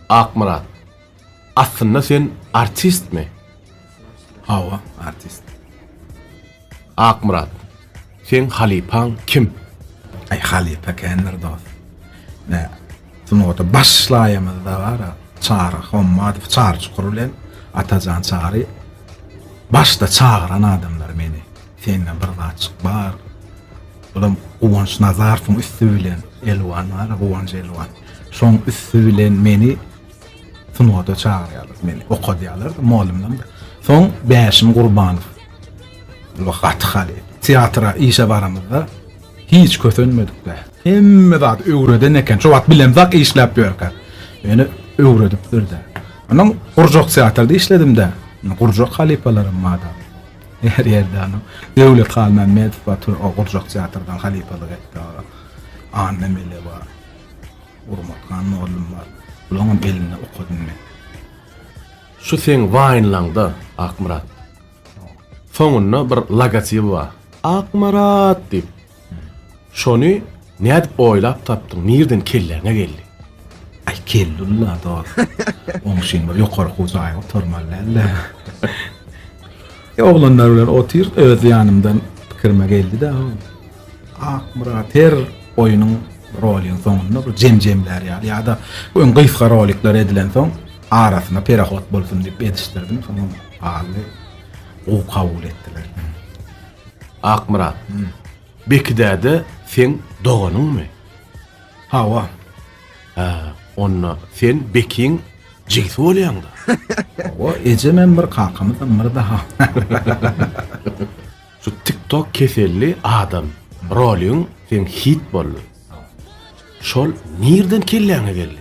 Akmyrat. Aslynda sen artistmi? Hawa, artist. Akmyrat. Seň halypaň kim? Aý halypa kändir dost. Nä, sungata başlaýamyzda bara Çary Hommadow, Çary Çukur bilen Atajan Çary başda çagyran adamlar meni. Sende bir zatjyk bar. Olam Guwanç Nazarowyň üsti bilen Elwan bar, Guwanç Elwan. Şoň üsti bilen meni sunwada çagyrýarlar, meni okadýarlar, mugallymdan. Soň Bäşim Gurbanow. Bu gaty haly. Teatra işe baramyzda hiç kösenmedik be. Hemme zat öwreden eken. Şo wagt bilemzak işläp ýörkä. Meni öwredipdir-de. Onuň gurjak teatrda işledim-de. Gurjak halypalaram bardy. Her ýerde ony Döwlet Halmämmedow bar, tö, o gurjak teatrdan halypalyk etdi. Anna Mele bar. Gurbathan mollum bar. Bularyň hem elinde okadym men. Şu seň waýnlaňda, Akmyrat. Soňunda bir logotibi bar. Akmyrat diýip, Şony nädip oýlap tapdyň, nirden kelläňe geldi? Ay kellulla dor. Oň şeýin bir ýokary hujaýy oturmaly däldi. E oglanlar bilen otyr öz ýanymdan pikirime geldi de. Akmyrat her oýunyň rolyň soňunda bir jemjemler ýaly ýa-da öň gysga rolikler edilen soň arasyna perahot bolsun diýip edişdirdim. Soň galy gowy kabul etdiler. Akmyrat. Bekidäde seň doganyňmy? Hawa. Hä, onda sen Bekiň jigisi bolýaň-da. Hawa, ejemem bir, kakamyzam bir-de-ha. Şu TikTok keselli adam roliň seň hit boldy. Şol nirden kelläňe geldi?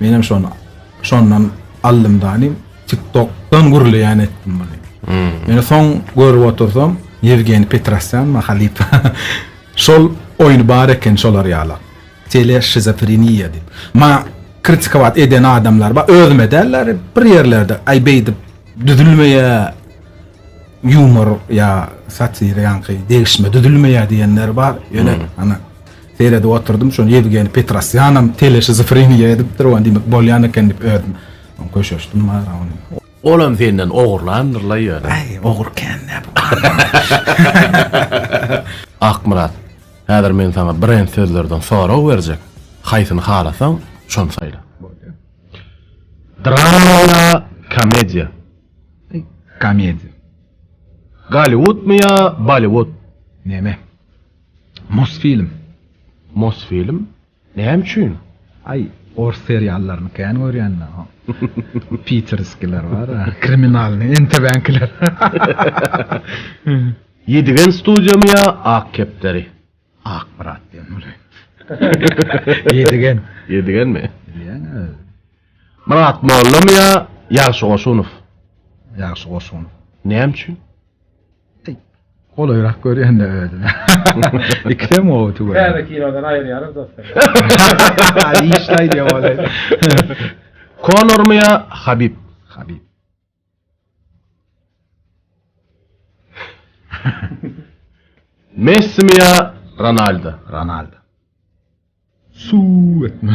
Menem şony şondan aldym dany TikTokdan gürleýän etdim muny. Hmm. Meni soň görüp otursam Yevgeniy Petrosyan mahalyp. Şol oýny bar eken şolar ýala. Tele şizofreniýa diýip. Ma kritikowat eden adamlar ba özüme däller bir ýerlerde aý beýdip düzülmeýär ýumor ýa satira ýaňky degişme düzülmeýär diýenler bar. Ýöne hmm. ana Seredip oturdym, şony Ýewgeniý Petrosýanam teleşizofreniýa edipdir, ony diýmek bolýan eken diýip özüm köşeşdim wara ony. Olam senden ogurlandyr-la ýöne. Aý, ogur kän-dä bu. Akmyrat, häzir men saňa brend sözlerden sorag berjek, haýsyny halasaň, şony saýla. Bolýa. Drama ýa komediýa? Komediýa. Golliwudmy ýa Bolliwud? Neme? Mosfilm. Mosfilm? Näme üçin? Aý, ors seriallaryny kän görýän-dä. Piterskiler bar-a, kriminalnyý, NTW-nikiler. Ýedigen studiýamy ýa Ak kepderi? Ak brat diýen bolaý. Ýedigen. Ýedigenmi? Bilýän özi. Myrat mollamy ýa Ýagşy Goşunow? Ýagşy Goşunow. Näme üçin? Golaýrak görýän-dä özüme. Ikisem gowy tüweleme. Täze kinodan aýyrýarys dostlar. Işde aýdýan bolaýsa. Konormy ýa Habib? Habib. Messimi ýa Ronaldo? Ronaldo. Suw etme.